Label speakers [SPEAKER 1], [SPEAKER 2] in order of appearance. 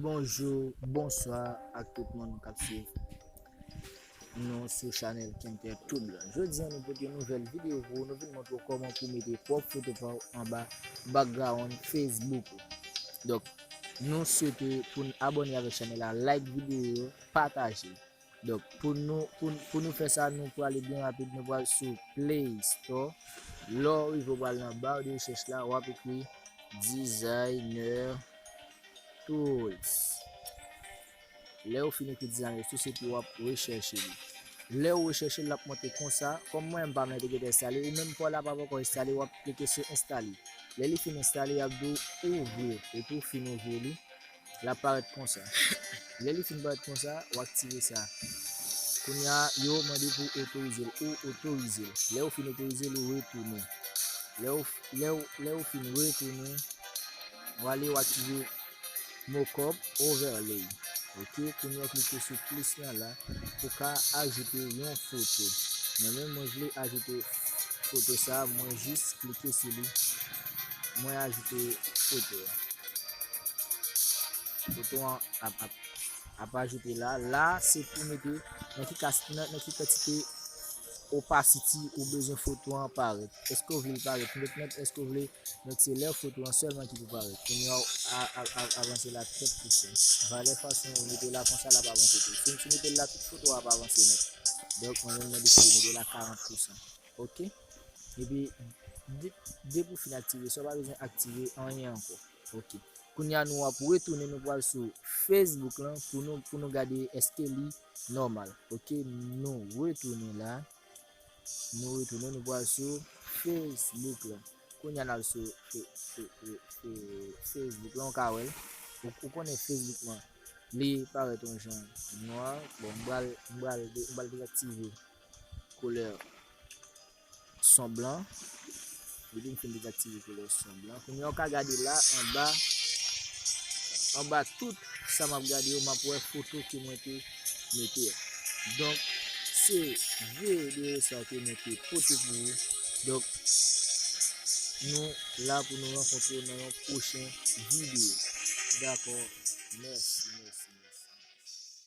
[SPEAKER 1] Bonjou, bonswa ak tout moun kap swiv nou sou chanèl Kentè Toudla. Jodi an nou pote nouvèl videyo pou nou vin montre ou koman pou mete pwòp foto pa ou anba background Facebook ou. Donk, nou swete pou nou abone avèk chanèl la, like videyo yo, pataje. Donk pou nou pou nou fè sa nou prale byen rapid nou pral sou play store lè w rive w pral nan bar de recherche la wap ekri designer tools lè w fin ekri designer tools epi wap recherche li lè w recherche lap monte konsa kòm mwen m pa mwen te gete enstale ou menm paw la pa poko enstale wap klike sou enstale lè li fin enstale yap di w ouvrir epi w fin ouvrir li l ap parèt konsa lè li fin parèt konsa ou aktive sa kounya yo mande pou otorize l ou otorize l lè ou fin otorize l ou retounen lè ou lè ou lè ou fin retounen ou ale ou aktive mockup overlay ok kounya klike sou plis nan la pou ka ajoute yon foto mwen men mwen vle ajoute foto sa mwen jis klike sou li mwen ajoute foto Bouton an ap ap ap ajoute la. La se pou mete nan ki kas nan ki kantite opacity ou bezwen foto an parèt. Eske ou vle l parèt net net, eske ou vle net se lè foto an sèlman ki pou parèt. Kounye a avanse la trèt pousè. Valè fason ou mete la konsa la pa avanse tou. Si ou mete la tout foto a pa avanse net. Donk mwen menm mwen deside mete la 40 pousè. Ok. Epi, de pou fin aktive, sa ou pa bezwen aktive anyen ankon. Ok kounya nou ap retounen nou pral sou Facebook lan pou nou pou nou gade eske li nòmal ok nou retounen la nou retounen nou pral sou Facebook lan kounya nal sou Facebook lan ka wèl ou konnen Facebook lan li parèt yon jan nwa bon mbral mbral mbral deaktive koulè son blan depi m fin dezaktive koulè son blan kounye ou ka gade la anba anba tout sa m ap gade yo m ap wè foto ke mwen te mete a donk se vye vye sa ke mwen te pote pou ou donk nou la pou nou rankontre yo nan yon pwochen video dako mèsi mèsi mèsi